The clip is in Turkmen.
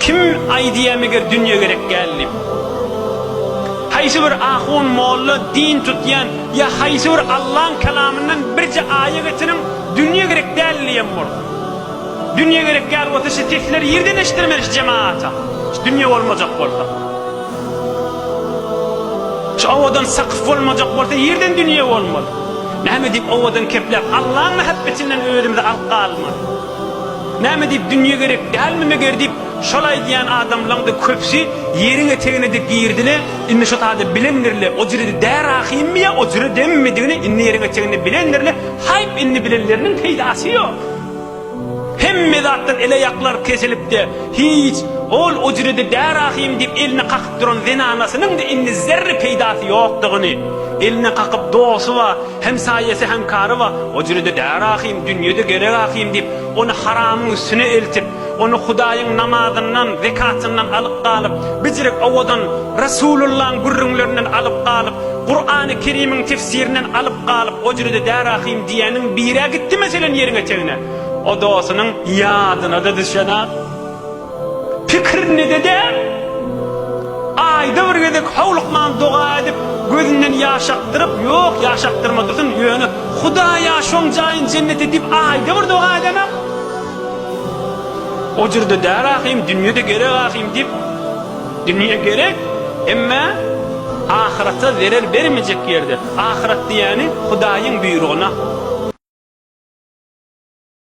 Kim aýdýa meger dünýe gerek däl diýip? Haýsy bir ahun, molla, din tutýan ýa haýsy bir Allaň kalamyndan birje aýa getiriň, dünýe gerek däl diýen bolsun. Dünýe gerek däl bolsa şu sesleri ýerden eşdirmeli şu jemaata. Şu dünýe bolmajak bolsa. Şu owadan sakyf bolmajak bolsa ýerden dünýe bolmaz. Näme diýip owadan kepläp Allaň mähebbetinden özümizi alyp galmaly. Näme diýip dünýe gerek dälmi meger diýip şol aýdýan adamlaňda köpsi ýeriň eteginede girdile indi şo sada bilendirle ojredi dä rahymmy ýa ojre demmidigini indi ýeriň eteginde bilendirle haýp indi bilenleriniň peýdasy ýok hemme zatdan ele ýaklar kesilipde hiç ol ojredi dä rahym diýip elini kakyp duran zenanasynyňda indi zerre peýdasy ýokdugyny elini kakyp dosy ba Hemsaýasy hemkary bar, o jüri-de däri ahym, dünýe-de gerek ahym diýip, ony haramyň üstüne eltip, ony Hudaýyň namazyndan, zekatyndan alyp galyp, bijirik owadan Resulyllaň gürrüňlerinden alyp galyp, Kurany Kerimiň tefsirinden alyp galyp, o jüri-de däri ahym diýeniň bir-ä gitdi meselen ýeriň etegine, o dosynyň ýadyna-da düşenak. Pikirinde-de däl. Aýda bir gezek howlukman doga edip, gözünden ýaş akdyryp, ýok, ýaş akdyrma dursun, ýöne, Hudaý-a, şoň jaýyn jennet et diýip, aýda bir doga edenem. O jürde däl ahym, dünýe-de gerek ahym diýip, dünýe gerek, emmä ahyrata zerer bermejek ýerde, ahyrat diýýäni Hudaýyň buýrugyna.